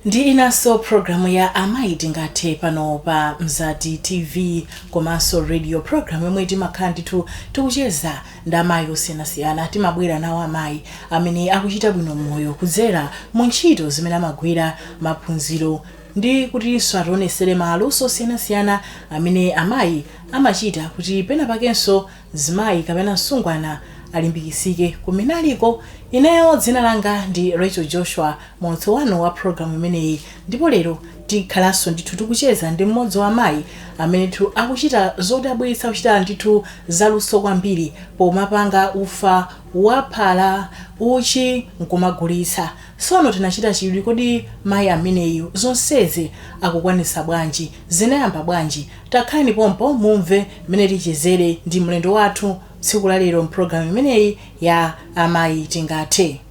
ndi inanso programu ya amayi tingathe pano pa mzati tv komanso radio programu yomwe timakhala ndithu tikucheza ndi amayi osiyanasiyana. Timabwera nawo amayi amene akuchita bwino m'moyo kudzera mu ntchito zimene amagwira, maphunziro ndi kutinso ationesere maluso osiyanasiyana amene amayi amachita kuti pena pakenso mzimayi kapena msungwana alimbikitsike kumene aliko. Ineyo dzina langa ndi Rachel Joshua, muulutsi wanu wa programu imeneyi ndipo lero. Tikhalanso ndithu tikucheza ndi mmodzi wa amayi amenetu akuchita zodabwitsa, kuchita ndithu zaluso kwambiri pomapanga ufa wa phala, uchi, n'kumagulitsa. Tsono tinachita chidwi, kodi mayi ameneyu zonsezi akukwanitsa bwanji? Zinayamba bwanji? Takhalani pompo mumve mmene tichezere ndi mlendo wathu tsiku la lero m'programu imeneyi ya Amayi Tingathe.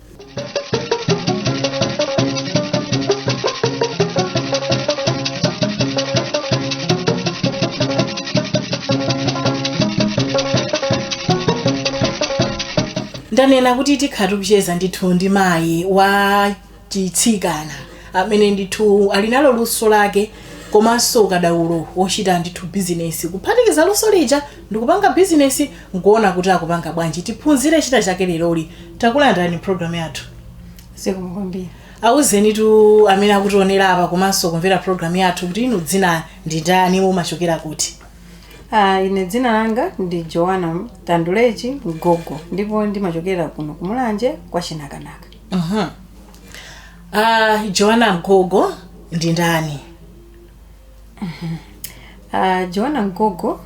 ndanena kuti tikhala tikucheza ndithu ndi mayi wa chitsikana amene ndithu ali nalo luso lake komanso ukadaulo wochita ndithu bizinesi kuphatikiza luso lija ndi kupanga bizinesi nkuona kuti akupanga bwanji tiphunzire china chake leroli takulandirani program yathu zikomo kwambiri auzenitu amene akutionera apa komanso kumvera program yathu kuti inu dzina ndi ndani mumachokera kuti Ah, ine dzina langa ndi joana tandulechi mgogo ndipo ndimachokera kuno ku mulanje kwa chinakanaka Mhm. Ah, joana mgogo ndi ndani Ah, Joana Mgogo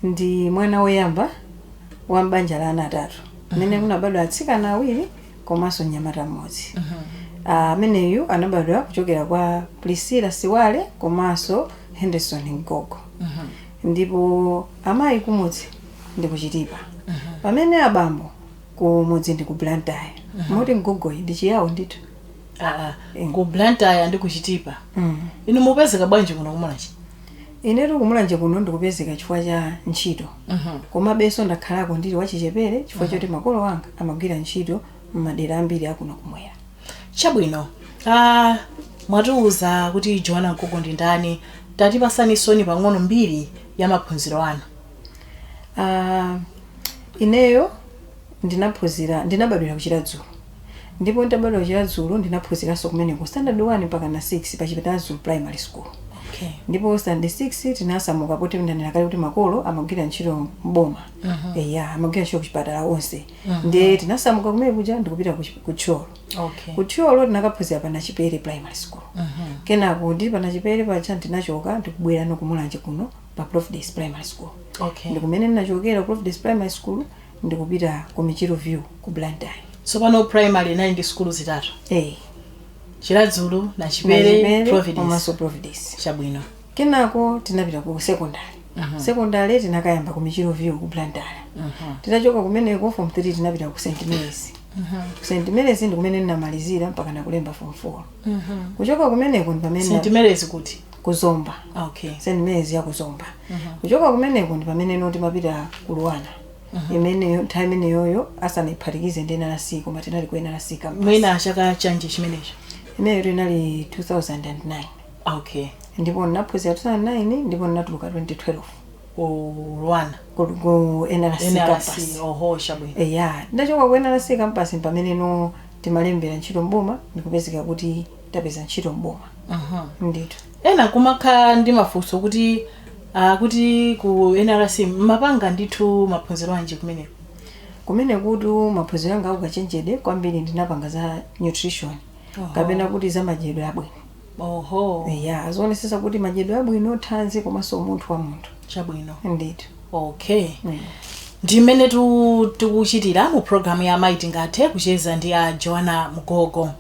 ndi mwana woyamba wa m'banja la ana atatu mmene munabadwa atsikana awiri komanso mnyamata mmodzi Ah, ameneyu anabadwa kuchokera kwa Priscilla Siwale komanso Henderson Mgogo ndipo amayi kumudzi ndi ku Chitipa pamene abambo kumudzi ndi ku Blantyre moti Mgogoyi ndi chiyawo ndithu aa Eh. ku blantyre ndi ku chitipa Mm. inu mupezeka bwanji kuno ku mulanje inetu ku mulanje kuno ndikupezeka chifukwa cha ntchito Mhm. komabenso ndakhalako ndili wachichepere chifukwa choti makolo anga amagwira ntchito m'madera ambiri akuno kumwera chabwino ah, mwatiuza kuti joana mgogo ndi ndani tatipatsani tsono pang'ono mbiri ya maphunziro anu Ah, ineyo ndinaphunzira ndinabadwira ku chiradzulu Ndipo ntabadwa ku Chiradzulu ndinaphunziranso kumeneko standard 1 mpakana 6 pa Chiradzulu primary school okay. ndipo standard 6 tinasamuka poti ndanena kale kuti makolo amagwira ntchito mboma uh -huh. eya amagwira ntchito kuchipatala onse uh -huh. ndiye tinasamuka kumene kuja ndikupita ku Thyolo okay. ku Thyolo tinakaphunzira pa nachipere primary school uh -huh. kenako ndi pa nachipere paja ndinachoka ndikubwera no ku Mulanje kuno pa providence primary school okay. ndikumene ndinachokera providence primary school ndikupita ku michiru view ku Blantyre. Tsopano primary inayi ndi sukulu zitatu. Eeh. Chiradzulu, Nachipere, Nachipere Providence. komanso Providence. Chabwino. Kenako tinapita ku secondary. Secondary tinakayamba ku michiru view ku Blantyre. Titachoka kumeneko form 3 tinapita ku St Mary's. Ku St Mary's ndikumene ndinamalizira mpakana kulemba form 4. Kuchoka kumeneko ndipamene. St Mary's kuti? ku Zomba Okay. St Mary's ya ku Zomba kuchoka kumeneko ndi pamene no timapita ku Luana imeneyo nthawi imeneyoyo asanayiphatikize ndi NRC koma tinali ku NRC campus mwina chaka chanji chimenecho imeneyo inali 2009 okay ndipo ndinaphunzira 2009 ndipo ndinatuluka 2012 ku Luana ku, ku NRC, NRC campus oho chabwino eya ndachoka ku NRC campus pamene no timalembera ntchito mboma ndikupezeka kuti tapeza ntchito m'boma ndithu ena akumakhala ndi mafunso kuti ah, kuti ku nrc mumapanga ndithu maphunziro anji kumeneko kumenekutu maphunziro anga aukachenjede kwambiri ndinapanga za nutrition Oho. kapena kuti za madyedwe abwino oho ya zoonesesa kuti madyedwe abwino thanzi komanso umunthu wa munthu chabwino ndithu okay Mm. ndimene tu- tikuchitira mu programu ya amayi tingathe kucheza ndi a joana mgogo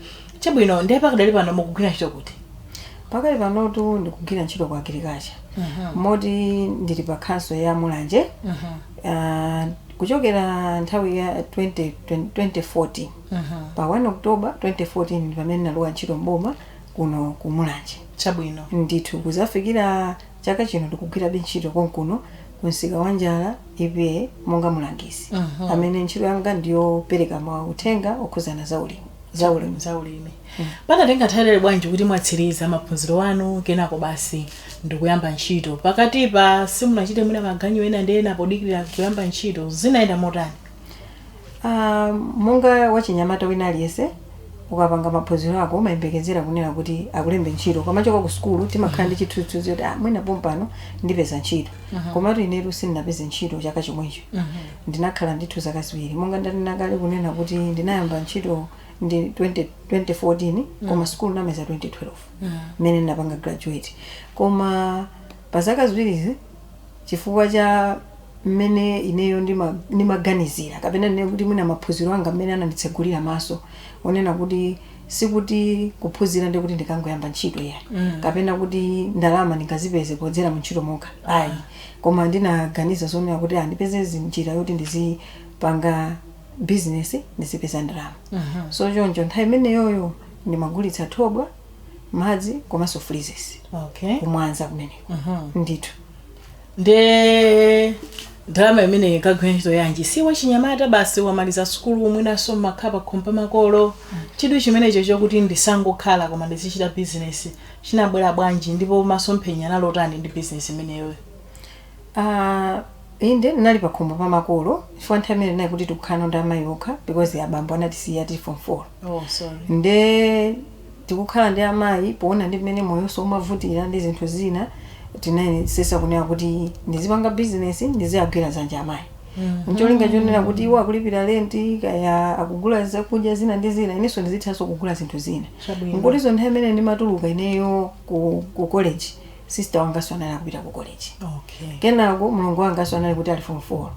Chabwino, ndiye pakadali pano mukugwira ntchito kuti? Pakali panotu ndikugwira ntchito ku agriculture moti ndili pa khonsolo ya Mulanje Ah, kuchokera nthawi ya 20, 2014 pa 1 October 2014 ndi pamene ndinalowa ntchito mboma kuno ku Mulanje Chabwino. ndithu kuzafikira chaka chino ndikugwirabe ntchito konkuno ku msika wa njala EPA monga mulangizi amene ntchito yanga ndiyopereka mauthenga okhudzana za ulimi zaulimi zaulimi panatenga nthawi yaitali bwanji kuti mwatsiriza maphunziro anu kenako basi ndikuyamba ntchito pakatipa simunachite mwina maganyu ena ndi ena podikirira kuyamba ntchito zinayenda motani Ah, monga wachinyamata wina aliyense ukapanga maphunziro ako umayembekezera kunena kuti akulembe ntchito ukamachoka ku sukulu timakhala ndi chithunzithunzi kuti ah, mwina pompano ndipeza ntchito komatu inetu sindinapeze ntchito chaka chomwecho Ndinakhala ndithu zaka ziwiri. Monga ndanena kale kunena kuti ndinayamba ntchito mu 20, 2014 koma mm. sukulu namaliza 2012 mm. mmene mm. ndinapanga graduate. Koma pa zaka ziwirizi chifukwa cha mmene ineyo ndimaganizira nima kapena ndinene kuti mwina maphunziro anga mmene ananditsegulira maso onena kuti sikuti kuphunzira ndikuti ndikangoyamba ntchito ya mm. kapena kuti ndalama ndingazipeze podzera mu ntchito mokha ayi. Koma ndinaganiza zonena kuti ah, ndipeze zi- njira yoti ndizipanga business ndizipeza ndalama so choncho nthawi imeneyoyo ndimagulitsa thobwa madzi komanso freezes okay kumwanza kumeneko ndithu nde ndalama imeneyi ikagwira ntchito yanji ndi wachinyamata basi wamaliza sukulu mwinanso mmakhala pakhomo pa makolo chidwi chimenecho chokuti ndisangokhala koma ndizichita bizinesi chinabwera bwanji ndipo masomphenya anali otani ndi business imeneyoyo? Aaa inde ndinali pakhomo pa makolo chifukwa nthawi imeneyo tinali kuti tikukhala nawo ndi amayi okha because abambo anatisiya tili form 4 Oh sorry. nde tikukhala ndi amayi poona ndi mmene moyonso umavutira ndi zinthu zina ndinayesesa kunena kuti ndizipanga business ndiziagwira dzanja amayi mcholinga chonena kuti iwo akulipira lenti kaya akugula zakudya zina ndi zina inenso ndizithanso kugula zinthu zina Chabwino. Moti zo nthawi imene ndimatuluka ineyo ku, ku college sister wanganso anali akupita ku college okay kenako mlongo wanganso anali kuti ali form 4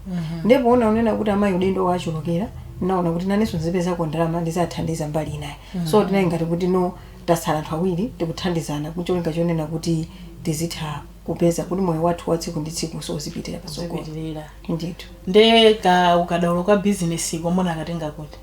ndipo poona kunena kuti amayi udindo wawachulukira naona kuti nanenso ndizipezako ndalama ndiziwathandiza mbali inayo so tinali ngati kuti ano tasala anthu awiri tikuthandizana kucholinga chonena kuti tizitha kupeza kuti moyo wathu wa tsiku ndi tsiku so uzipitira patsogolo zipitirira ndithu nde ka ukadaulo ka bizinesi ka munakatenga kuti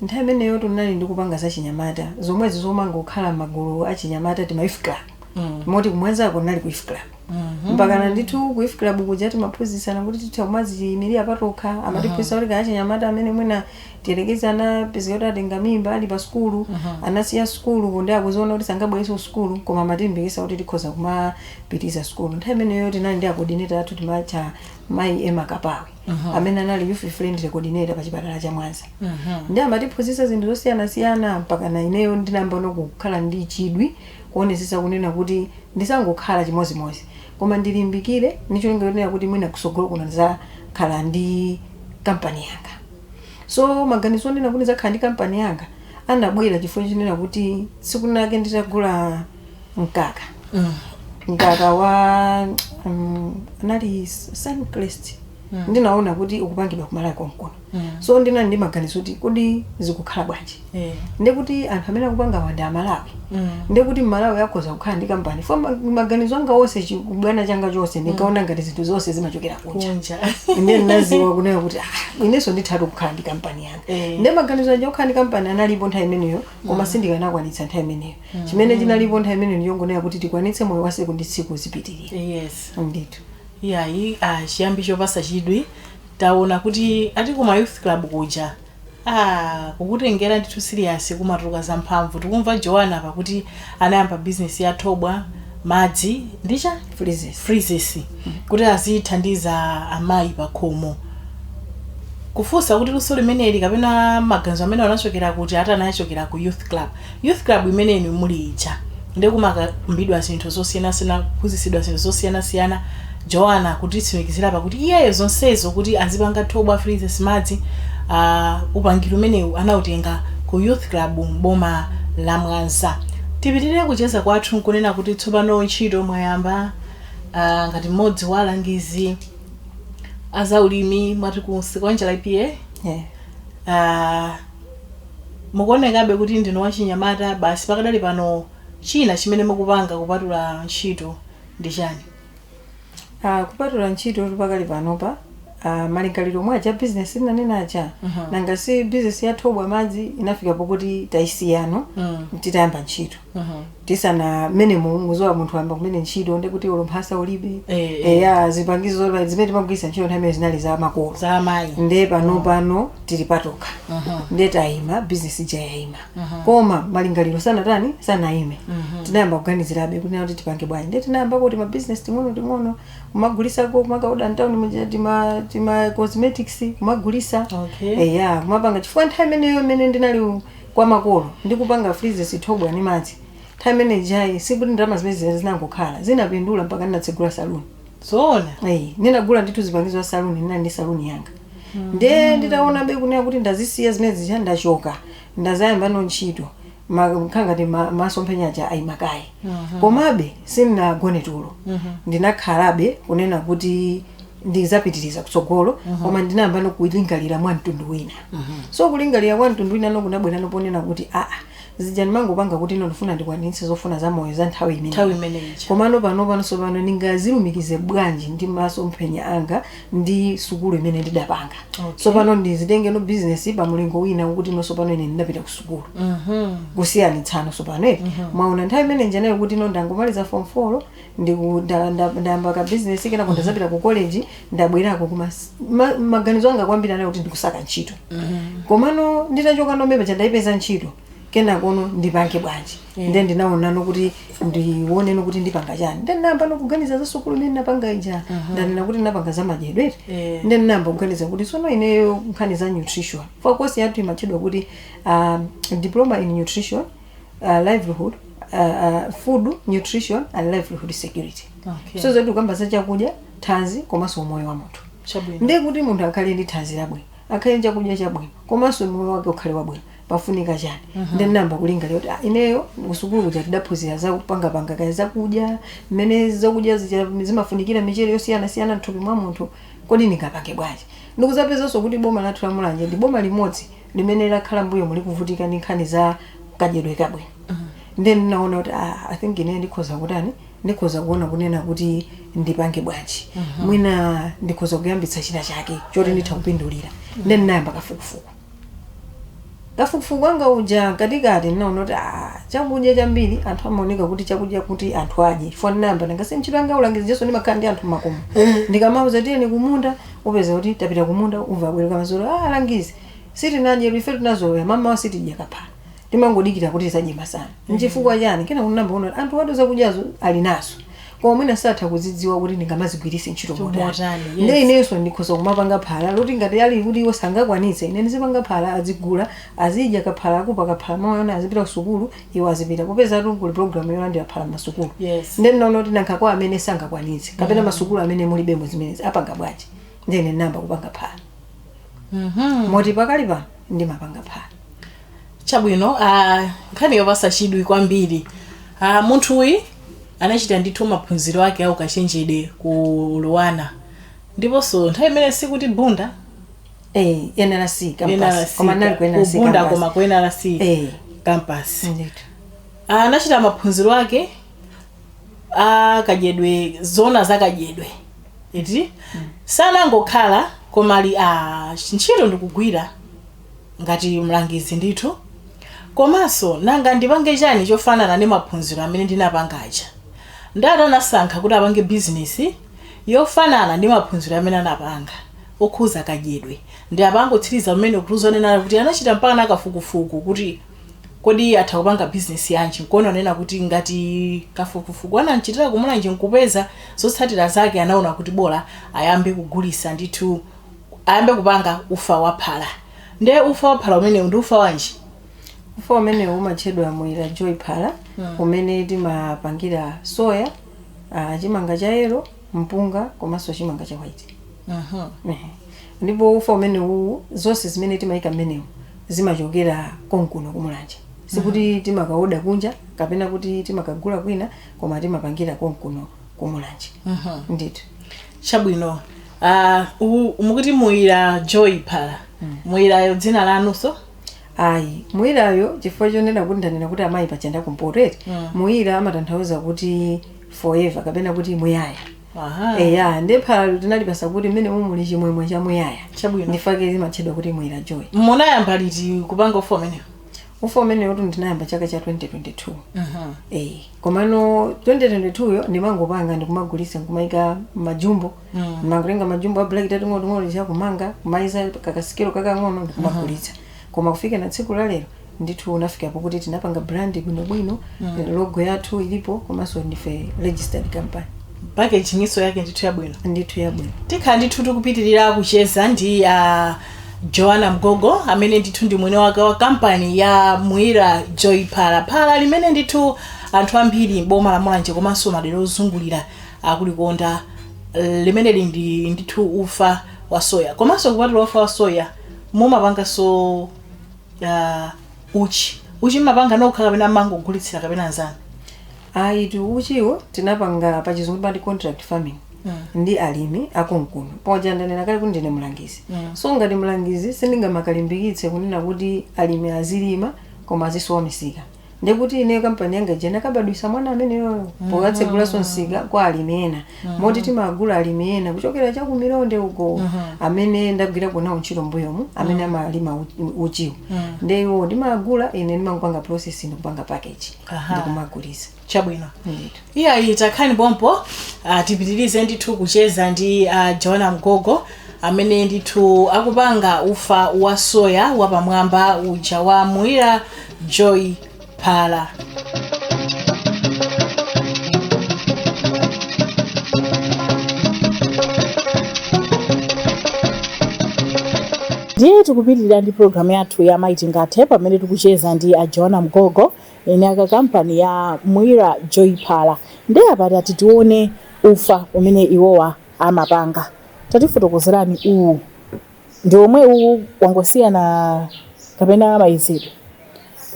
nthawi imeneyo ndinali ndikupanga za chinyamata zomwezi monga kukhala magulu a chinyamata tima youth club Mm. moti kumwanzako nali ku youth club Mhm. mpakana ndithu ku youth club kuja timaphunzitsana kuti titha kumaziyimirira patokha amatiphunzitsa kuti kaya achinyamata amene mwina tiyerekeze anapezeka kuti atenga mimba ali pa sukulu anasiya sukulu kodi akuziona kuti sangabwereso sukulu koma amatilimbikisa kuti tikhoza kumapitiriza sukulu nthawi imeneyo tinali ndi acoordinator athu timatcha mayi ema kapawe amene anali youth friendly coordinator pa chipatala cha mwanza nde amatiphunzitsa zinthu zosiyanasiyana mpakana ineyo ndinayambano kukhala ndi chidwi kuonesesa kunena kuti ndisangokhala chimozimozi koma ndilimbikire ndi cholinga chonena kuti mwina kusogolo kuno ndizakhale ndi kampani yanga so maganizo onena kuti ndizakhale ndi kampani yanga anabwera chifukwa chonena kuti tsiku linalake nditagula mkaka mkaka wa um, anali suncrest ndinaona kuti ukupangidwa kumalawi konkuno so ndinali ndi maganizo kuti kodi zikukhala bwanji Eh. ndekuti anthu amene akupangawa ndi amalawi Mm. ndekuti mmalawi akhoza kukhala ndi kampani fo ma- maganizo anga onse chibwana changa chonse ndinkaona ngati zinthu zonse zimachokera kunja Kunja. ine ndinaziwa kunena kuti "Ah, inenso ndithatu kukhala ndi kampani yanga Eh. nde maganizo aja okhala ndi kampani analipo nthawi imeneyo koma sindikanakwanitsa nthawi imeneyo chimene chinalipo nthawi imeneyo ndiyongonena kuti tikwanitse moyo wa tsiku ndi tsiku zipitirire Yes. ndithu iyayi ah, chiyambi chopatsa chidwi taona kuti ati kuma youth club kuja Aaa kukutengera ndithu siliyasi kumatuluka zamphamvu tikumva Joana apa kuti anayamba business ya thobwa, madzi ndi chani? Freezes. freezes kuti azithandiza amayi pakhomo kufunsa kuti luso limeneli kapena maganizo amenewa anachokera kuti ati anachokera ku youth club. Youth club imene inu muli ija ndi kumakambidwa zinthu zosiyanasiyana kuphunzitsidwa zinthu zosiyanasiyana Joana kutitsimikizira apa kuti iyeyo zonsezo kuti azipanga thobwa freezes madzi aah upangiri umenewu anautenga ku youth club m'boma la Mwanza tipitirire kucheza kwathu nkunena kuti tsopano ntchito mwayamba aah ngati mmodzi wa alangizi a zaulimi mwati ku Nsikwanja EPA eeh aah Mukuonekabe kuti ndinu wachinyamata basi pakadali pano china chimene mukupanga kupatula ntchito ndi chani? Aaa kupatula ntchitotu pakali panopa aah malingaliro omwe aja a business ndinanena aja nanga si business ya thobwa madzi inafika pokuti taisiya no titayamba ntchito. tisana mmene muziwa munthu ayamba kumene ntchito ndi kuti ulumphasa ulibe Eh, eh. eya zipangizo zola- zimene timagwiritsa ntchito nthawi imene zinali za makolo za amayi nde pano pano tili patokha nde tayima bizinesi ija yayima koma malingaliro sanatani sanayime tinayamba kuganizirabe kunena kuti tipange bwanji nde tinayamba kuti mabizinesi ting'ono ting'ono kumagulisako kumakaoda mtawuni muja tima tima cosmetics kumagulisa Okay. eya kumapanga chifukwa nthawi imeneyo imene ndinali u- kwa makolo ndikupanga freezes thobwa ndi madzi nthawi imene ijayi sikuti ndalama zimene zija zinangokhala zinapindula mpaka ndinatsegula saluni zoona Ayi, ndinagula ndithu zipangizo za saluni ndinali ndi saluni yanga nde nditaonabe kunena kuti ndazisiya zimene zija ndachoka ndazayamba no ntchito Ma- kukhala ngati ma- masomphenya aja ayimakaye komabe sindinagone tulo ndinakhalabe kunena kuti ndizapitiriza kutsogolo koma ndinayamba no kulingalira mwa mtundu wina so kulingalira kwa mtundu wina no kunabwera no ponena kuti aa zija ndimangopanga kuti ino ndifuna ndikwanitse zofuna za moyo za nthawi imene Nthawi imeneyi ija. komano pano panso pano ndingazilumikize bwanji ndi masomphenya anga ndi sukulu imene ndidapanga Okay. so pano ndizitenge no bizinesi pa mulingo wina kuti no so pano ine ndinapita ku sukulu kusiyanitsa no so pano eti mwaona nthawi imene njanayo kuti ino ndangomaliza form 4 ndiku nda- nda- ndayamba ka business kenako ndazapita ku college ndabwerako koma s- ma- maganizo anga kwambiri anali kuti ndikusaka ntchito komano nditachoka nombe paja ndayipeza ntchito kenakono ndipange bwanji nde ndinaonano kuti ndioneno kuti ndipanga chani nde ndinayamba no kuganiza za sukulu imene ndinapanga ija ndanena kuti ndinapanga za madyedwe Yeah. nde ndinayamba kuganiza kuti sono ineyo nkhani za nutrition poti course yathu imatchedwa kuti um, diploma in nutrition uh, livelihood uh, uh, food nutrition and livelihood security Okay. so zotu zokamba za chakudya thanzi komanso umoyo wa munthu Chabwino. ndiye kuti munthu akhale ndi thanzi labwino akhale ndi chakudya chabwino komanso moyo wake ukhale wabwino pafunika chani nde namba kulingalira kuti ah, ineyo kusukulu kuja tidaphunzira za kupangapanga kaya zakudya mmene zakudya zija- zimafunikira michere yosiyanasiyana mthupi mwa munthu kodi ndingapange bwanji ndikuzapezanso kuti boma lathu la mulanje ndi boma limodzi limene lakhala m'mbuyomu likuvutika ndi nkhani za kadyedwe kabwino ndiye ndinaona kuti ah, i think ineyo ndikhoza kutani ndikhoza kuona kunena kuti ndipange bwanji mwina ndikhoza kuyambitsa china chake choti nditha kupindulira ndiye ndinayamba kafukufuku kafukufuku wanga uja mkatikati ndinaona kuti ah, chakudya chambiri anthu amaoneka kuti chakudya kuti anthu adye chifukwa ndinayamba ndangati ntchito yanga ulangizi ija so ndimakhala ndi anthu mmakomo ndikamawauza tiyeni kumunda Upeza kuti tapita kumunda umva abwerako madzulo ah alangizi sitinadyetu ifetu tinazolowera mamawa sitidya kaphalo timangodikira kuti tizadye masana nchifukwa chani kenako ndinayamba kuona kuti anthuwatu zakudyazo ali nazo koma mwina satha kuzidziwa kuti ndingamazigwiritse ntchito motani Motani, yes. nde inenso ndikhoza kumapanga phala loti ngati ali kuti iwo sangakwanitse ine ndizipanga phala azigula azidya kaphala akamwa kaphala mmawa ana azipita kusukulu iwo azipita popezatu kuli program yolandira phala masukulu Yes. nde ndinaona kuti nanga kwa amene sangakwanitse kapena masukulu amene mulibemo zimenezi apanga bwanji nde ine namba kupanga phala Mhm. moti pakali pano ndimapanga phala chabwino ah, nkhani yopasa chidwi kwambiri ah, munthuyi anachita ndithu maphunziro ake aukachenjede ku luanar ndiponso nthawi imene sikuti bunda eh NRC campus koma anali ku NRC kubunda campus. koma ku nrc Eh. campus Indeed. anachita maphunziro ake akadyedwe zona zakadyedwe iti sanangokhala koma ali pa ntchito ndi kugwira ngati mlangizi ndithu komanso nanga ndipange chani chofanana ndi maphunziro amene ndinapanga aja ndati anasankha kuti apange bizinesi yofanana ndi maphunziro amene anapanga okhuza kadyedwe ndi apa angotsiriza kumene kutiuza kunena kuti anachita mpaka na kafukufuku kuti kodi atha kupanga bizinesi yanji nkuona kunena kuti ngati kafukufuku anachitira kumulanje nkupeza zotsatira zake anaona kuti bola ayambe kugulisa ndithu ayambe kupanga ufa wa phala nde ufa wa phala umenewu ndi ufa wanji ufa umenewu umatchedwa Mwira joy phala umene timapangira soya ah, chimanga cha yellow mpunga komanso chimanga cha white Aha. Ehe. ndipo ufa umene uwu zonse zimene timayika mmenemo zimachokera konkuno kuMulanje sikuti timakaoda kunja kapena kuti timakagula kwina koma timapangira konkuno kuMulanje Aha. ndithu chabwino ah, u- mukuti Muyira Joy Phala Muyirayo dzina lanunso ayi muyirayo chifukwa chonena kuti ndanena kuti amayi paja ndi akumpoto eti Mm. muyira amatanthauza kuti forever kapena kuti muyaya Aha. eya nde phalalo tinalipasa kuti mmenemu muli chimwemwe cha muyaya Chabwino. ndifake limatchedwa kuti Muyira Joy munayamba liti kupanga ufa umenewu ufa umenewutu ndinayamba chaka cha 2022 Mhm. Eh, komano 2022 yo ndimangopanga ndikumagulisa ndikumayika mmajumbo mangotenga majumbo a black ating'onoang'ono aja kumanga kumaiza kakasikelo kakang'ono ndikumagulitsa koma kufikana tsiku la lero ndithu unafika pokuti tinapanga brand bwinobwino logo yathu ilipo komanso ndife registered company packaging-nso yake ndithu yabwino ndithu yabwino tikhala ndithu tikupitirira kucheza ndi a Joana Mgogo amene ndithu ndi mwini wake wa kampani ya Muira Joy Phala phala limene ndithu anthu ambiri m'boma la Mulanje komanso madera ozungulira akulikonda limeneli ndi ndithu ufa wa soya komanso kupatula ufa wa soya mumapanganso uh, uchi uchi mmapanga nokha kapena mmangogulitsira kapena anzanu ayitu uchiwo tinapanga pa chizungu timati contract farming ndi alimi akonkuno poja ndanena kale kuti ndine mlangizi so ngati mlangizi sindingamakalimbikitse kunena kuti alimi azilima koma azisowa misika ndiye kuti ineyo kampani yanga ija inakabadwisa mwana ameneyo pokatsegulanso msika kwa alimi ena moti timagula kwa alimi ena kuchokera cha kuMilonde uko amene ndagwirako nawo ntchito mbuyomu amene amalima uchi- uchiwo ndiye iwo ndimagula ine ndimangopanga process ndikupanga package Aha. ndikumagulisa chabwino ndithu Iyayi takhalani pompo uh, tipitirize ndithu kucheza ndi a Joana Mgogo amene ndithu akupanga ufa wa soya wapamwamba uja wa Muira Joy Phala. ndiye tikupitirira ndi programu yathu ya Mayi Tingathe pamene tikucheza ndi a Joana Mgogo Eni ake a kampani ya Mwira Joy Phala nde apa tati tione ufa umene iwowa amapanga. Tatifotokozerani uwu ndi omweuwu wangosiyana kapena maikidwe?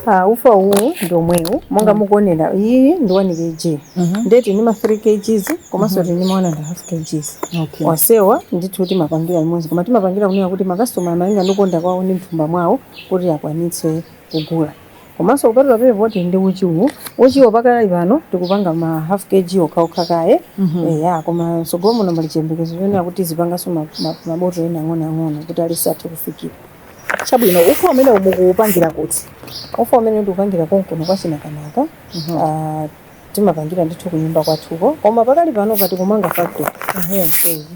Ah, ufa uwu ndi omwewu monga mukuonera iyi ndi 1 kg Mhm. nde tili ndi ma 3 kgs komanso tili ndi ma 1.5 kgs Okay. onsewa ndithu timapangira limodzi koma timapangira kunena kuti makasitoma malinga ndi kukonda kwawo ndi mthumba mwawo kuti akwanitse kugula Komanso kupatula pay voti ndi uchiwo. Uchiwo pakali pano tikupanga ma half KG okhaokha kaye. Eya, koma mtsogolo muno muli chiyembekezo chonena kuti tizipanganso ma, ma, ma botolo ena ang'onoang'ono kuti aliyense athe kufikira. Chabwino, ufa umenewu mukuupangira kuti? Ufa umenewu ndikupangira konkuno kwa Chinakanaka. Ah. timapangira ndithu kunyumba kwathuko koma pakali panopa tikumanga factory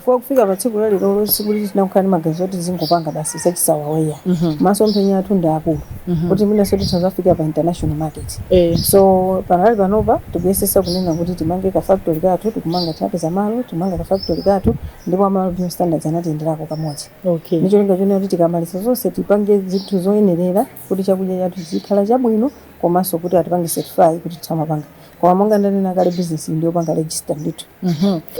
pakufika pa tsiku lalero sikuti tinangokhala ndi maganizo oti tizingopanga basi zachisawawa eya masomphenya athu ndi akulu kuti mwinanso titha zafika pa international market so pakali panopa tikuyesesa kunena kuti timange ka factory kathu tikumanga tinapeza malo timange ka factory kathu ndipo a Malawi Bureau of Standards anatiyenderako kamodzi okay ndicholinga chonena kuti tikamaliza zonse tipange zinthu zoyenerera kuti chakudya chathu chizikhala chabwino komanso kuti atipange certify kuti tizimapanga koma monga ndanena kale business iyi ndiyopanga register ndithu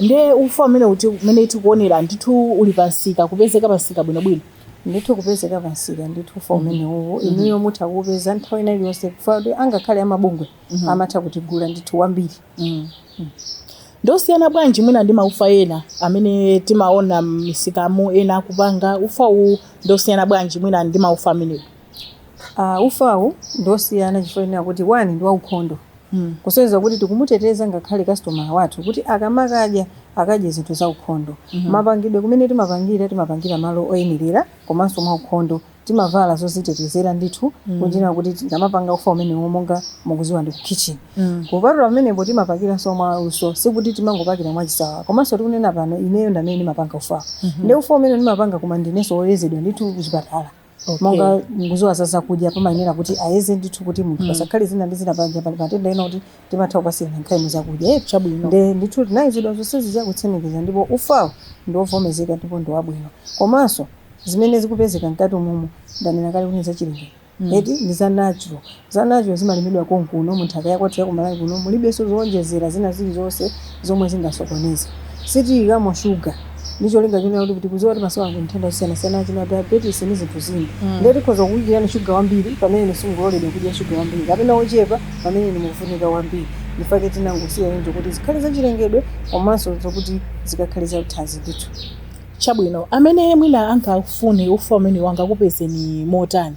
ndiye ufa umeneutu umene tikuonera ndithu uli pamsika ukupezeka pamsika bwinobwino ndithu ukupezeka pamsika ndithu ufa umenewu inuyo mutha kuupeza nthawi ina iliyonse chifukwa choti angakhale amabungwe amatha kutigula ndithu wambiri ndosiyana bwanji mwina ndi maufa ena amene timaona m'misikamu ena akupanga ufa uwu ndosiyana bwanji mwina ndi maufa amenewo Uh, ufawu ndi osiyana chifukwa chonena kuti one ndi waukhondo mm. kusonyeza kuti tikumuteteza ngakhale kasitomala wathu kuti akamakadya akadye zinthu za ukhondo mm -hmm. mapangidwe kumene timapangira timapangira malo oyenerera komanso mwa ukhondo timavala zozitetezera ndithu mm. kuchitira kuti tikamapanga ufa umenewo monga mukuziwa ndi kukhichini mm. kupatula pamenepo timapakiranso mwa luso sikuti timangopakira mwa chisawawa komanso tikunena pano ineyo ndamene ndimapanga ufawo mm -hmm. ndi ufa umene ndimapanga koma ndinenso woyezedwa ndithu kuchipatala Okay. monga mukuziwa za zakudya pamayenera kuti ayeze ndithu kuti munthu pasakhale zina ndi zina panja pali matenda ena kuti timatha kupasirana nkhani zakudya Eh, Chabwino. nde ndithu ndinayezedwa zonsezi zakutsimikiza ndipo ufawo ndi wovomezeka ndipo ndi wabwino komanso zimene zikupezeka mkati umomu ndanena kale kuti ndi zachilengedwe eti ndi za natural Za natural zimalimidwa konkuno mu nthaka ya kwathu ya ku Malawi kuno, mulibenso zoonjezera zina zili zonse zomwe zingasokoneze. Sitiyikamo sugar ndi cholinga chonena kuti kuti tikuziwa masiku ano nthenda zosiyanasiyana achina diabetes ndi zinthu zina. Ndiye tikhoza kukuyikirani sugar wambiri pamene inu simukuloledwa kudya sugar wambiri kapena wochepa pamene inu mukufunika wambiri. Nchifukwa chake tinangosiya choncho kuti zikhale za chilengedwe komanso zokuti zikakhale za thanzi ndithu. Chabwino. Amene mwina angafune ufa umenewu angakupezeni motani?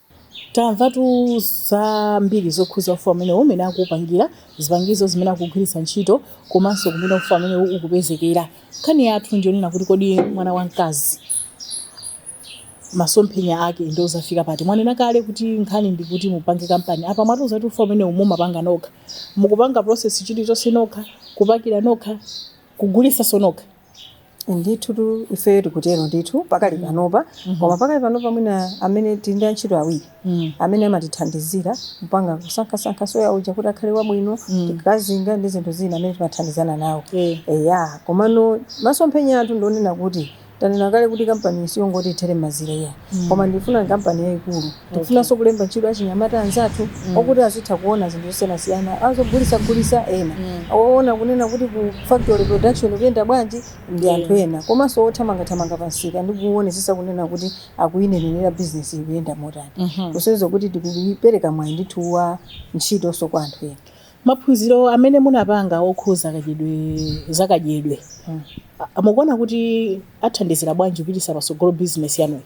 Tamvatu zambiri zokhuza ufa umenewu, mmene akuupangira, zipangizo zimene akugwiritsa ntchito komanso kumene ufa umenewu ukupezekera. Nkhani yathu ndi yonena kuti kodi mwana wamkazi masomphenya ake ndi ozafika pati? Mwanena kale kuti nkhani ndi kuti mupange kampani. Apa mwatiuza kuti ufa umenewu mumapanga nokha. Mukupanga process chilichonse nokha, kupakira nokha, kugulitsanso nokha? ndithu tu ifeyo tikutero ndithu pakali panopa koma pakali panopa mwina amene tili ndi antchito awiri amene amatithandizira kupanga kusankhasankha soya uja kuti akhale wabwino tikakazinga ndi zinthu zina amene timathandizana nawo Eh. eya komano masomphenya athu ndi onena kuti tanena kale kuti kampani siyongoti ithere momwemu iya koma ndifuna kampani yayikulu tifunanso kulemba ntchito achinyamata anzathu okuti azitha kuona zinthu zosiyanasiyana azogulitsagulitsa ena oona kunena kuti ku factory production ikuyenda bwanji ndi anthu ena komanso othamangathamanga pa msika ndi kuonesesa kunena kuti akuyinenerera bizinesi ikuyenda motani kusonyeza kuti tikupereka mwayi ndithu wa ntchitonso kwa anthu ena Maphunziro amene munapanga okhuza kadyedwe za kadyedwe a- mukuona kuti athandizira bwanji kupitisa patsogolo business yanuyi?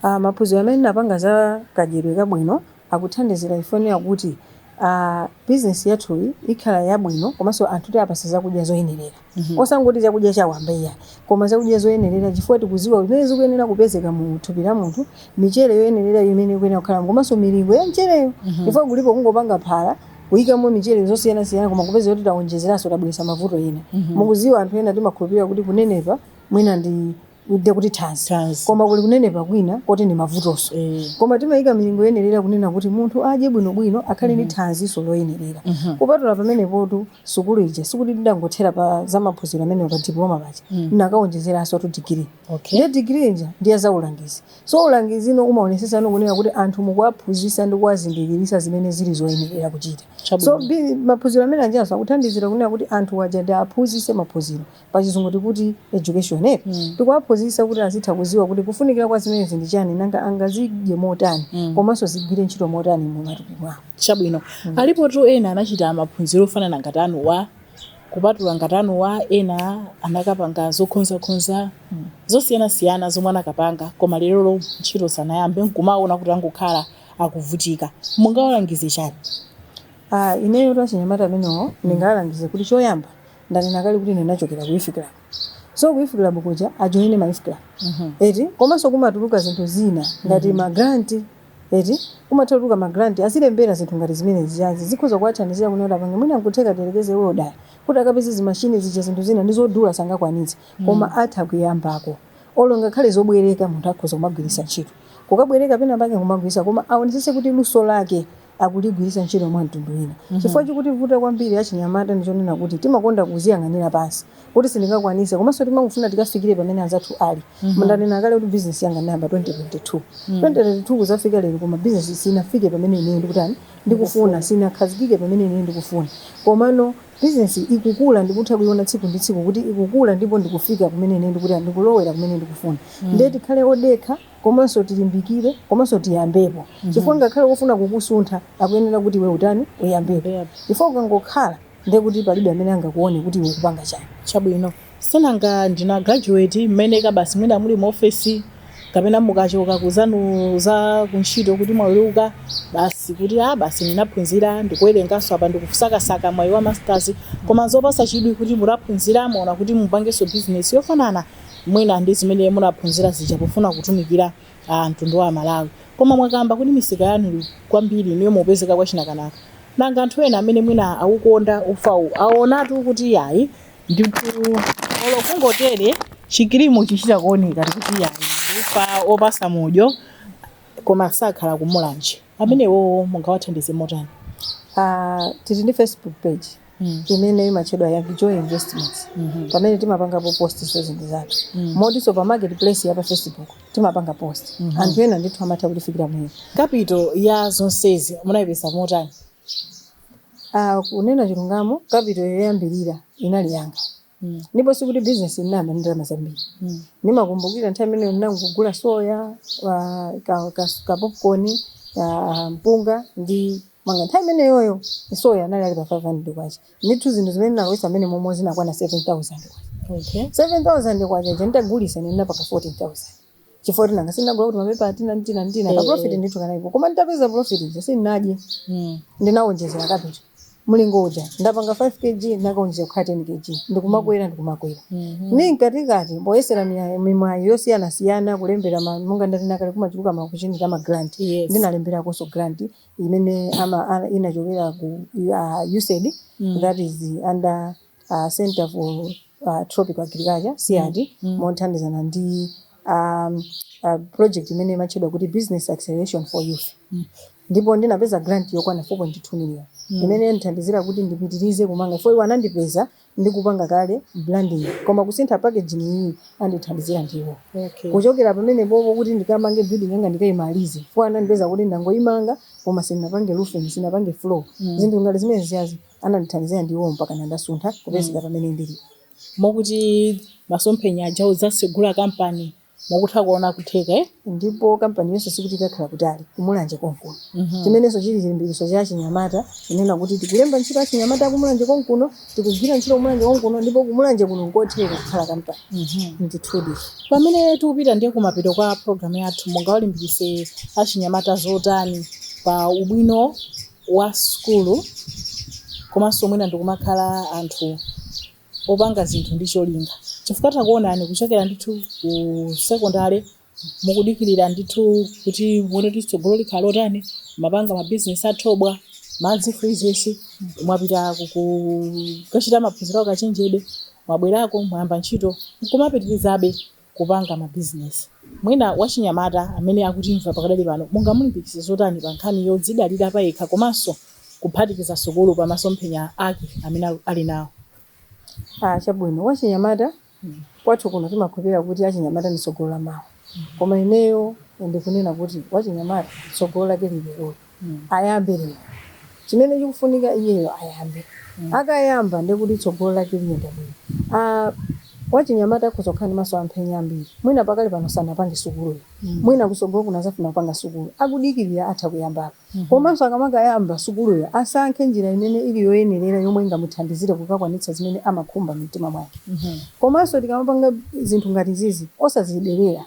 Ah, maphunziro amene napanga za kadyedwe kabwino akuthandizira ife kunena kuti ah, bizinesi yathuyi ikhala yabwino komanso anthu tiwapase zakudya zoyenerera Mhm. osangoti zakudya chawamba iyayi koma zakudya zoyenerera chifukwa tikuziwa zimene zikuyenera kupezeka mu thupi la munthu michere yoyenerera imene ikuyenera kukhala komanso milingo ya michereyo Mhm. chifukwa kulipo kungopanga phala kuyikamo michere zosiyanasiyana koma kupeza kuti tawonjezeranso tabweretsa mavuto ena Mhm. mukuziwa anthu ena timakhulupirira kuti kunenepa mwina ndi ndiye kuti thanzi Thanzi. koma kuli kunenepa kwina koti ndi mavutonso Eh. koma timayika milingo yoyenerera kunena kuti munthu adye bwinobwino akhale ndi thanziso loyenerera kupatula pamenepotu sukulu ija sikuti ndidangothera pa za maphunziro amenewo pa diploma paja ndinakawonjezeransotu digiri Okay. ndiye digiri ija ndi ya za ulangizi so ulangiziwo umaonesesano kunena kuti anthu mukuwaphunzisa ndi kuwazindikirisa zimene zili zoyenerera kuchita Chabwino. so bi- maphunziro amene ajanso akuthandizira kunena kuti anthu waja ndiwaphunzise maphunziro pachizungu tikuti education eti Mm. tikuwaphunzitsa kuti azitha kuziwa kuti kufunikira kwa zimenezi ndi chani nanga angazidye motani Mm. komanso zigwire ntchito motani mu matupi mwawo chabwino Mm. alipotu ena anachita maphunziro ofanana ngati anuwa kupatula ngati anuwa ena anakapanga zokhonzakhonza Mm. zosiyanasiyana zomwe anakapanga koma lerolo ntchito sanayambe nkumaona kuti angokhala akuvutika mungawalangize chani Ah, ineyo achinyamata amenewo ndingawalangize kuti choyamba ndanena kale kuti ine ndinachokera ku youth club so ku youth club kuja ajoine ma youth club eti komanso kumatuluka zinthu zina ngati ma grant eti kumatuluka ma grant azilembera zinthu ngati zimene zijazi zikhoza kuwathandizira kuti apange mwina nkutheka tiyerekeze iwowo daya kuti akapeze zimashini zija zinthu zina ndi zodula sangakwanitse koma atha kuyambako olo ngakhale zobwereka munthu akhoza kumagwiritsa ntchito kukabwereka pena pake kumagwiritsa koma aonesese kuti luso lake akuligwiritsa ntchito mwa mtundu wina. Chifukwa chikutivuta kwambiri achinyamata ndi chonena kuti timakonda kudziyang'anira pansi kuti sindingakwanitse komanso timangofuna tikafikire pamene anzathu ali. Ndanena kale kuti bizinesi yanga ndinayamba 2022. 2022 kudzafika lero koma bizinesi sinafike pamene ineyo ndikutani ndikufuna, sinakhazikike pamene ineyo ndikufuna. Komano bizinesi ikukula ndikutha kuiona tsiku ndi tsiku kuti ikukula ndipo ndikufika kumene ineyo ndikutani ndikulowera kumene ndikufuna. Ndiye tikhale odekha komanso tilimbikire komanso tiyambepo chifukwa ngakhale wofuna kukusuntha akuyenera kuti iwe utani uyambepo Yep. chifukwa ukangokhala ndiye kuti palibe amene angakuone kuti iwe ukupanga chani chabwino si nanga ndina graduate mmene kabasi mwina muli mu ofesi kapena mukachoka kwa anzanu za kuntchito kuti mwaweruka basi kuti a basi ndinaphunzira ndikuwerenganso apa ndikusakasaka mwayi wa masters koma zopatsa chidwi kuti mutaphunzira mwaona kuti mupangenso bizinesi yofanana mwina ndi zimene munaphunzira zija pofuna kutumikira mtundu wa Amalawi. Koma mwakamba kuti misika yanu kwambiri inuyo mumapezeka kwa Chinakanaka. Nanga anthu ena amene mwina awukonda ufawu awonatu kuti iyayi ndithu olo kungotere chikirimu chikuchita kuoneka kuti iyayi ndi ufa opatsa mudyo koma sakhala ku Mulanje. Amenewo mungawathandize motani? Ah, tili ndi Facebook page. mm. imene imatchedwa Yami Joy Investments mm -hmm. pamene timapangapo post so zinthu zathu mm. motinso pa market place ya pa Facebook timapanga post mm -hmm. anthu ena ndithu amatha kutifikira mmene. Capital ya zonsezi munaipeza motani? Uh, kunena chilungamo capital yoyambirira inali yanga Mm. ndipo sikuti bizinesi inayamba ndi ndalama zambiri Mm. ndimakumbukira nthawi imeneyo ndinangogula soya wa- ka- ka- kapopcorn ka mpunga ndi chimanga nthawi imeneyoyo soya anali ali pa 500 kwacha ndithu zinthu zimene ndinalowetsa mmenemo zinakwana 7000 kwacha Okay. 7000 kwacha ija nditagulitsa ndinapanga 14000 chifukwa kuti nanga sindinagula kuti mapepa atina ndi atina ndi atina Eh, kaprofiti eh. ndithu kanalipo koma nditapeza profiti ija sindinadye Mm. ndinawonjezera kapito mlingo uja ndapanga 5 kg ndakawonjezera kukhala 10 kg ndikumakwera ndikumakwera Mhm. ndiye mkatikati poyesera miya- mimwayi yosiyanasiyana kulembera ma- monga ndatina kale kumachuluka ma kuchiyani ka ma grant Yes. ndinalemberanso grant imene ama- a- inachokera ku uh, usaid Mm. that is under a Centre for Tropical Agriculture, CIAT, mothandizana ndi a a project imene imatchedwa kuti Business Acceleration for Youth. Ndipo ndinapeza grant yokwana 4.2 million imene yandithandizira kuti ndipitirize kumanga chifukwa iwo anandipeza ndikupanga kale branding koma kusintha packaging iyi andithandizira ndiwo. Okay. Kuchokera pamenepopo kuti ndikamange building yanga ndikayimalize chifukwa anandipeza kuti ndangoyimanga koma sindinapange roofing, sindinapange floor. Zinthu ngati zimenezizi. Anandithandizira ndi iwowo mpakana ndasuntha kupezeka mm. pamene ndilipo. Mokuti masomphenya aja odzatsegula kampani mukutha kuona kutheka eh? Ndipo kampani yonse sikuti ikakhala kutali ku Mulanje konkuno mm -hmm. Chimenenso chili chilimbikitso cha achinyamata kunena kuti tikulemba ntchito achinyamata a ku Mulanje konkuno, tikugwira ntchito ku Mulanje konkuno, ndipo ku Mulanje kuno nkotheka kukhala kampani mm -hmm. Ndithudi pamene tikupita ndiye kumapeto kwa programu yathu, mungawalimbikitse achinyamata zotani pa ubwino wa sukulu komanso mwina ndikumakhala anthu opanga zinthu ndi cholinga chifukwa takuonani kuchokera ndithu ku sekondale mukudikirira ndithu kuti muone kuti tsogolo likhala lotani mapanga mabizinesi athobwa madzi freezes mwapita kukachita maphunziro akachenjede mwabwerako mwayamba ntchito nkumapitirizabe kupanga mabizinesi. Mwina wachinyamata amene akutimva pakadali pano mungamulimbikitse zotani pa nkhani yodzidalira payekha komanso kuphatikiza sukulu pa masomphenya ake amene ali nawo? Aa chabwino wachinyamata kwathu kuno timakhulupilira kuti achinyamata ndi tsogolo la mawa koma ineyo ndikunena kuti wachinyamata tsogolo lake lili leroli. ayambe lero chimene chikufunika iyeyo ayambe akayamba ndiye kuti tsogolo lake liyenda bwino Ah, wachinyamata akhoza kukhala ndi masomphenya ambiri mwina pakali pano sanapange sukuluyo mwina kusogolo kuno azafuna kupanga sukulu akudikirira atha kuyambapo komanso akamakayamba sukuluyo asankhe njira imene ili yoyenerera yomwe ingamuthandizire kukakwanitsa zimene amakhumba mu mtima mwake komanso tikamapanga zinthu ngati zizi osazidelera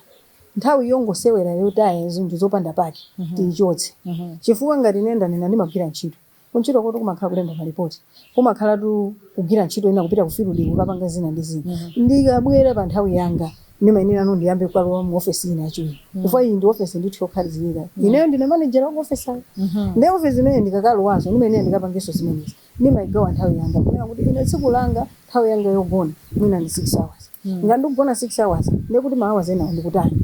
Nthawi yongosewera yotaya zinthu zopanda pake tiichotse chifukwa ngati ine ndanena ndimagwira ntchito, kuntchitokotu kumakhala kulemba malipoti, kumakhalatu kugwira ntchito ina, kupita kufiludi kukapanga zina ndi zina. Ndikabwera pa nthawi yanga ndimayenerano ndiyambe kulowa mu ofesi ina yachiwiri chifukwa iyi ndi ofesi ndithu yokhazikika. Ineyo ndine manejala wa mu ofesiyi ndiye ofesi imeneyi ndikakalowanso ndimayenera ndikapangenso zimenezi. ndimaigawa nthawi yanga kunena kuti ine tsiku langa nthawi yanga yogona mwina ndi 6 hours ngati ndikugona 6 hours ndiye kuti ma hours enawo ndikutani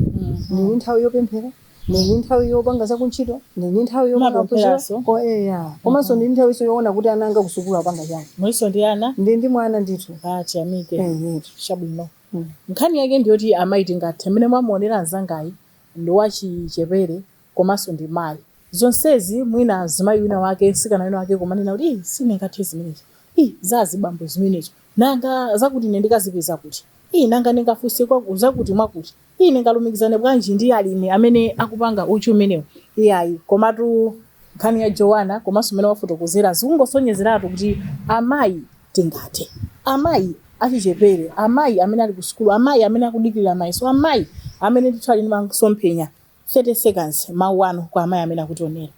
ndili ndi nthawi yopemphera ndili ndi nthawi yopanga zakuntchito ndili ndi nthawi yopanga maphunziroso eya komanso ndili ndi nthawiso yoona kuti ana anga kusukulu apanga chani muliso ndi ana ndili ndi mwana ndithu tiyamike eyetu chabwino Mm. nkhani yake ndiyoti amayi tingathe mmene mwamuonera mnzangayu ndi wachichepere komanso ndi mayi. Zonsezi mwina mzimayi wina wake, mtsikana wina wake kumanena kuti ii sindingathe zimenezo, ii za azibambo zimenezo, nanga zakuti ine ndikazipeza kuti, ii nanga ndingafunse kwa zakuti mwakuti, ii ndingalumikizane bwanji ndi alimi amene akupanga uchi umenewo. Iyayi, komatu nkhani ya Jowana komanso mmene wafotokozera zikungosonyezeratu kuti amayi tingathe. Amayi achichepere, amayi amene ali kusukulu, amayi amene akudikirira mayeso, amayi amene ndithu ali ndi masomphenya 30 seconds mawu anu kwa amayi amene akutionera.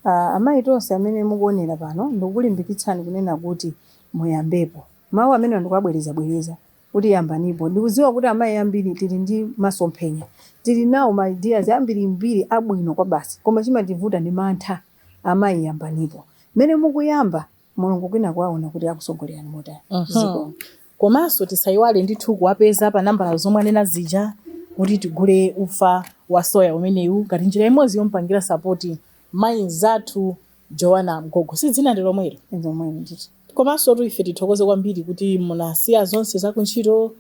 Aaa amayi tonse amene mukuonera pano ndikukulimbikitsani kunena kuti muyambepo mawu amenewa ndikuwabwereza bwereza kuti yambanipo ndikudziwa kuti amayi ambiri tili ndi masomphenya tili nawo ma ideas ambirimbiri abwino kwabasi koma chimativuta ndi mantha amayi yambanipo mmene mukuyamba Mulungu kwinaku akuona kuti akusogolerani motani. Zikomo. Komanso tisayiwale ndithu kuwapeza pa nambala zomwe anena zija kuti tigule ufa wa soya umenewu ngati njira imodzi yomupangira sapoti mayi mzathu Joana Mgogo. Si dzina ndi lomwelo? Ndi lomwelo ndithu. Komansotu ife tithokoze kwambiri kuti munasiya zonse za kuntchito,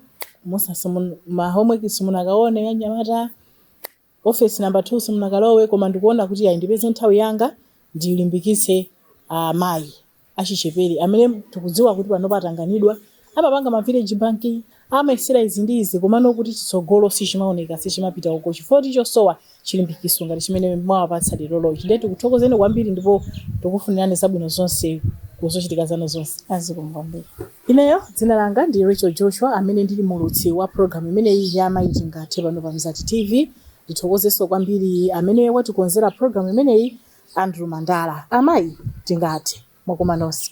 musas, ma homework simunakaone ya anyamata. Office number 2 simunakalowe koma ndikuona kuti ayi ndipeze nthawi yanga ndilimbikitse amayi achichepere amene tikudziwa kuti panopa atanganidwa, amapanga ma village bank, amayesera izi ndi izi komano kuti chitsogolo sichimaoneka, sichimapita uko chifukwa choti chosowa chilimbikiso ngati chimene mwawapatsa lerolochi. Ndiye tikuthokozeni kwambiri ndipo tikufunirani zabwino zonse ku zochitika zanu zonse. Zikomo kwambiri. Ineyo dzina langa ndi Rachel Joshua amene ndili muulutsi wa program imeneyi ya Amayi Tingathe pano pa Mzati TV. Ndithokozenso kwambiri amene watikonzera program imeneyi Andrew Mandala. Amayi tingathe mwakoma nonse.